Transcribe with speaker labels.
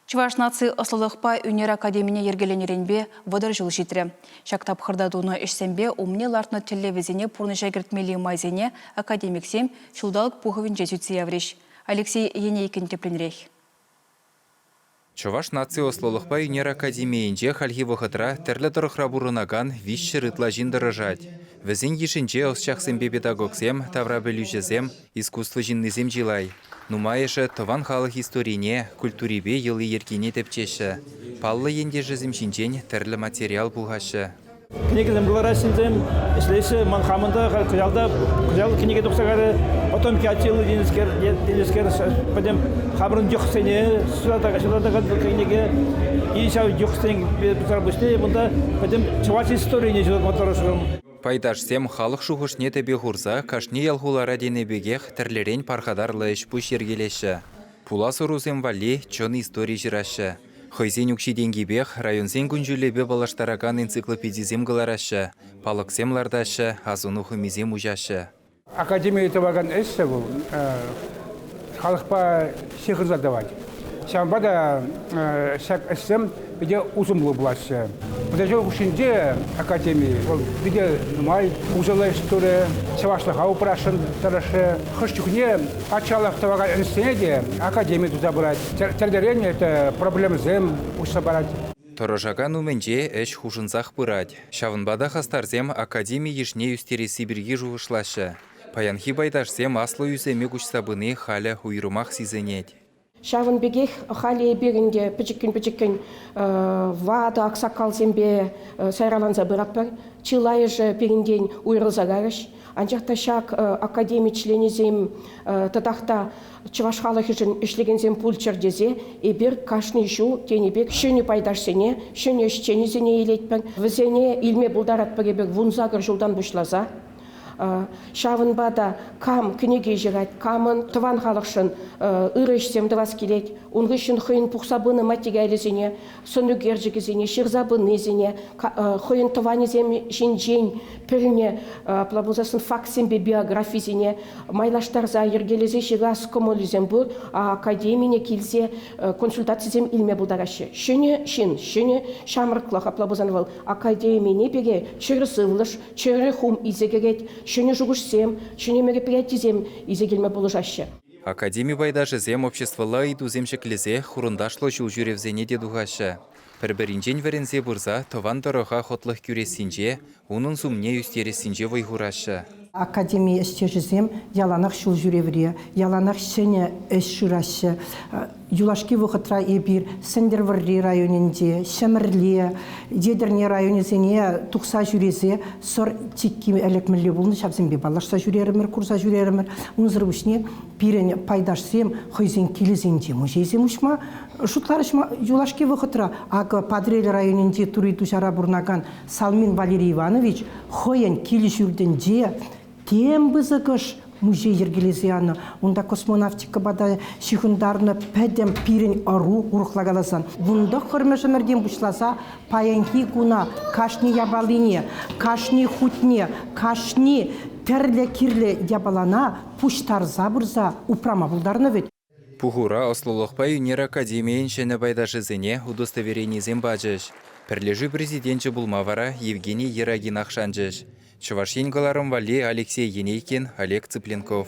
Speaker 1: Чӑваш наци ӑслӑлӑхпа ӳнер академине йӗркеленӗренпе вӑтӑр ҫул ҫитрӗ. Ҫак тапхӑрта тунӑ ӗҫсемпе умне лартнӑ тӗллевӗсене пурнӑҫа кӗртмелли майсене академиксем ҫулталӑк пухӑвӗнче сӳтсе яврӗҫ. Алексей Енейкин тӗплӗнрех.
Speaker 2: Чӑваш наци ӑслӑлӑхпа ӳнер академийӗнче хальхи вӑхӑтра тӗрлӗ тӑрӑхра пурӑнакан виҫҫӗр ытла ҫын тӑрӑшать. Вӗсен йышӗнче ӑсчахсемпе педагогсем, таврапӗлӳҫӗсем, Искусство ҫыннисем чылай. Нумайӑшӗ тӑван халӑх историне, культурипе йӑли-йӗркине тӗпчеҫҫӗ. Паллӑ ентешӗсем ҫинчен тӗрлӗ материал пухаҫҫӗ. Кӗнекесем
Speaker 3: кӑлараҫҫӗ вӗсем, ӗҫлеҫҫӗ. Ман хамӑн та халь кӑҫалта кӑҫал кӗнеке тухса кайрӗ. Потомкки Аттила тенӗскер, тенӗскер пӗтӗм хамӑрӑн йӑхсене ҫуратакан ҫуратакан кӗнеке. И ҫав йӑхсен туса пуҫне кунта пӗтӗм чӑваш историне ҫуратма тӑрӑшрӑм. Пайташсем
Speaker 2: халӑх шухӑшне тӗпе хурса кашни ял-хулара тенӗ пекех тӗрлӗрен пархатарлӑ ӗҫ-пуҫ йӗркелеҫҫӗ. Пулас ӑрусем валли чӑн истори ҫыраҫҫӗ. Хӑйсен укҫи-тенкипех районсен кун-ҫулӗпе паллаштаракан энциклопедисем кӑлараҫҫӗ, палӑксем лартаҫҫӗ, асӑну хӑмисем уҫаҫҫӗ. Академире
Speaker 4: тӑвакан ӗҫсӗр вӑл халӑхпа ҫыхӑнса тӑвать. Ҫавӑнпа та ҫак ӗҫсем питӗ усӑллӑ пулаҫҫӗ. Мӑтаҫу хушшинче академи вӑл питӗ нумай усӑллӑ ӗҫ турӗ, чӑвашлӑха упрасшӑн тӑрӑшрӗ. Хӑш чухне патшалӑх тӑвакан ӗҫсене те академи туса пырать. Тӗртерен это проблемӑсем уҫса парать. Тӑрӑшакан
Speaker 2: умӗнче ӗҫ хушӑнсах пырать. Ҫавӑнпа та хастарсем академи йышне ӳстересси пирки шухӑшлаҫҫӗ. Паянхи пайташсем аслӑ ӳсӗме куҫса пыни халӗ уйрӑмах сисӗнет. Ҫавӑн пекех
Speaker 5: халӗ эпир ӗнтӗ пӗчӗккӗн-пӗчӗккӗн ватӑ аксакалсемпе сайраланса пыратпӑр. Чылайӑшӗ пирӗнтен уйрӑлса кайрӗҫ. Анчах та ҫак академи членӗсем тӑтах та Чӑваш халӑхӗшӗн ӗҫлекенсем пулччӑр тесе эпир кашни ҫул тенӗ пек ҫӗнӗ пайташсене, ҫӗнӗ ӗҫченӗсене илетпӗр. Вӗсене илме пултаратпӑр эпир вунсакӑр ҫултан пуҫласа. Ҫавӑнпа та кам кӗнеке ҫырать, камӑн тӑван халӑхшӑн ырӑ ӗҫсем тӑвас килет, ун хыҫҫӑн хӑйӗн пухса пынӑ материалӗсене сӑн ӳкерчӗкӗсене ҫырса пынисене, хӑйӗн тӑванӗсем ҫинчен пӗлнӗ, апла пулсассӑн фактсемпе биографисене майлаштарса йӗркелесе ҫырас кӑмӑлӗсем пур, академине килсе консультацисем илме пултараҫҫӗ. Ҫӗнӗ ҫын, ҫӗнӗ ҫамрӑклӑх, апла пулсан вӑл академине пекех чӗр сывлӑш, чӗрӗ хум илсе кӗрет, ҫӗнӗ шухӑшсем, ҫӗнӗ мероприятисем илсе килме пулӑшаҫҫӗ. Академи
Speaker 2: пайташӗсем обществӑлла ыйтусем ҫӗклесех хурӑнташлӑ ҫул ҫӳревсене те тухаҫҫӗ. Пӗр-пӗринчен вӗренсе пырса тӑван тӑрӑха хӑтлӑх кӳрессинче, унӑн сумне ӳстерессинче вӑй хураҫҫӗ. Академи
Speaker 6: ӗҫтешӗсем яланах ҫул ҫӳревре, яланах ҫӗнӗ ӗҫ шыраҫҫӗ. Юлашки вӑхӑтра эпир Сӗнтӗрвӑрри районӗнче, Ҫӗмӗрле, Етӗрне районӗсене тухса ҫӳресе сӑр чикки ӗлӗкмелле пулнӑ, ҫавсемпе паллашса ҫӳрерӗмӗр, курса ҫӳрерӗмӗр. Унсӑр пуҫне пирӗн пайташсем хӑйсен килӗсенче музейсем уҫма шутларӗҫ. Юлашки вӑхӑтра акӑ Патӑрьел районӗнчи Тури Туҫара пурӑнакан Салмин Валерий Иванович хӑйӗн кил-ҫуртӗнче тем пысӑкӑш музей йӗркелесе янӑ. Унта космонавтикӑпа та ҫыхӑнтарнӑ пӗтӗм пирӗн ӑру, урӑхла каласан. Вун тӑххӑрмӗш ӗмӗртен пуҫласа паянхи куна кашни япалине, кашни хутне, кашни тӗрлӗ кирлӗ япалана пуҫтарса пырса упрама пултарнӑ вӗт. Пухура
Speaker 2: ӑслӑлӑхпа ӳнер академийӗн ҫӗнӗ пайташӗсене удостоверенисем пачӗҫ. Пӗрлешӳ президенчӗ пулма вара Евгений Ерагинах шанчӗҫ, Чӑваш Ен кӑларӑм валли Алексей Енейкин, Олег Цыпленков.